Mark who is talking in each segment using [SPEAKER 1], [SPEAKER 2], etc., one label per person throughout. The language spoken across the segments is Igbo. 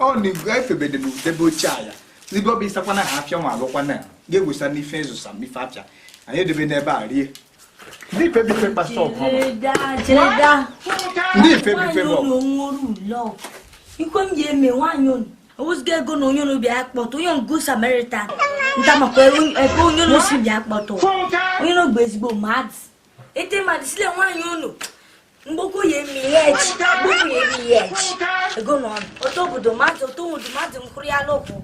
[SPEAKER 1] ọ na-ego efebede m debe oche a ya ndị ọbịa ịsakwana ha afịa nwa alụkwana ya ga-egwusa n'ife ịzụsa m ife afịa anyị edebe n'ebe a rie ndị ife bife
[SPEAKER 2] kpasa ọgụ
[SPEAKER 1] ndị ife bife bụ
[SPEAKER 2] ikwe m ji eme nwaanyị onu owuziga ego na onye n'obi akpọtụ onye good Samaritan nta maka ebe onye n'osi bi akpọtụ onye n'ogbe ezigbo mmadụ ete mmadụ sile nwaanyị onu mgboko ya emi ihe echi mgboko ya emi ihe echi ego na ọnụ otu obodo mmadụ otu ụdụ mmadụ mkụrụ ya n'ụkwụ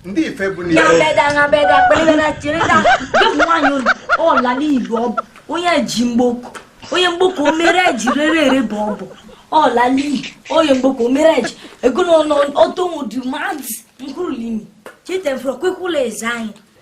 [SPEAKER 2] ndị
[SPEAKER 1] ife bụ ya n'ihe beda na beda
[SPEAKER 2] kpelebe na chere na ụmụ nwaanyị unu ọla n'iyi bụ onye ji mgboko onye mgboko o mere eji rere ere bụ ọ bụ ọla n'iyi onye mgboko o mere eji ego na ọnụ otu ụdụ mmadụ mkụrụ limi chete mfụrụ kwekwula eze anyị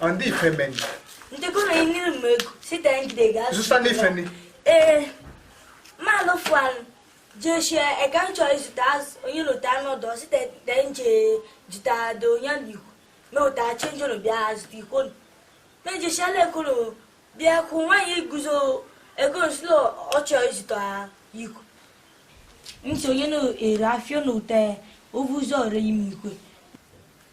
[SPEAKER 1] Ọ ndị ife meni. Ndị kọrọ
[SPEAKER 2] ihe n'iru m ego site ngide ga-azụ. Zụta n'ife
[SPEAKER 1] ni.
[SPEAKER 2] Ee, mmanụ fụanụ jeshi eka m chọrọ izụta azụ onye lụta anụ ọdọ site te nje jụta do onye na ikwu mewụta change ụlọ bịa zụta ikwo nụ. Mejeshi ala ekolo bịa kwụ nwaanyị iguzo ego nsụlọ ọ chọrọ izụta ikwu. Ntị onye na-ere afịa na ụta ya o vu ụzọ ree ime ikwe.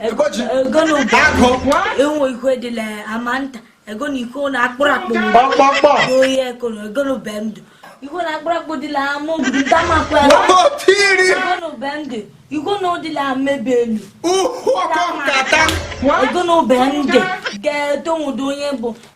[SPEAKER 2] Egoji. ego na
[SPEAKER 1] ụba Agụ. enwe ikwe
[SPEAKER 2] dịla ama nta ego na ikwe na akpụrụ akpụ Kpọkpọkpọ. oyi eko na ego na ube ndụ ikwe na akpụrụ akpụ dịla ama obi nta makwa Wapụ tiri. ego na
[SPEAKER 1] ube ndụ
[SPEAKER 2] ikwe na ụdịla amebe elu Uhu ọkọ
[SPEAKER 1] nkata. ego na
[SPEAKER 2] ube ndụ ga-eto nwụdo onye bụ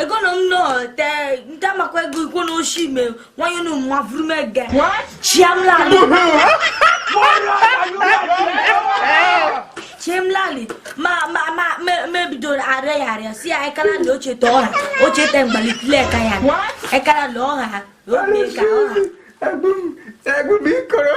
[SPEAKER 2] egono m no te nta makwa ego ikwo na oshi ime nwanyị unu mma vuru m ege chiamlali chiamlali ma ma ma mebidoro arịa ya arịa si ya ekara na oche te ọha oche te mgbalitile eka ya ekara na ọha ha obi ka ọha egbu m egbu m
[SPEAKER 1] ikoro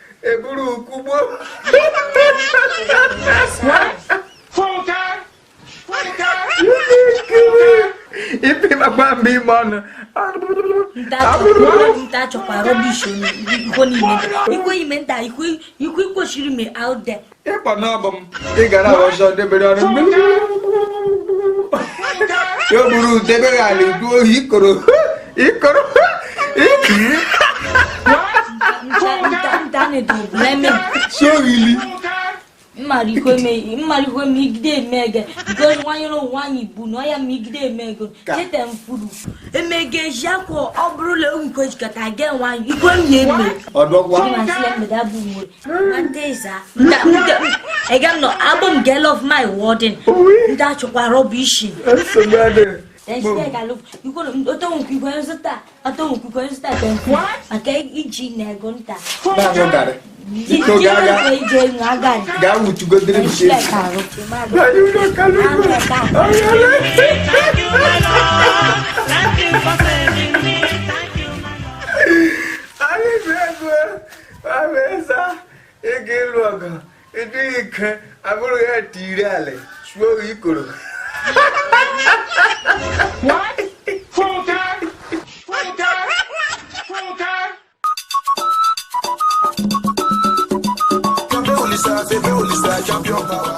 [SPEAKER 1] eburu ukugbo ipi makwa mgbe ime
[SPEAKER 2] ọnụ nta chọkwa rubbish ikwo niile ikwo ime nta ikwo ikwo kwesịrị ime out there ịkpọ na ọ bụ
[SPEAKER 1] m ị gara ọzọ debere ọrụ mmiri ya bụrụ udebe gị ala idu ohi ikoro ikoro soghili
[SPEAKER 2] mmarikwe m igide eme ege gozi nwanyere onwe anyị bu na ọya ma igide eme ego cheta m kwuru emege ji akwa ọ bụrụ na o nkwejikọta ga enwe anyị ikwe m ya eme ọ dọwaa
[SPEAKER 1] mgbede abụ mgbere
[SPEAKER 2] egamnọ abụ m girl of my word ndị achọkwa rubbish maka iji na ego nta
[SPEAKER 1] gaa wutugodiri m shi ị ga ịlụ ọgụ ị dị ike aburu ya tiri ala suo gị ikoro
[SPEAKER 3] Champion power.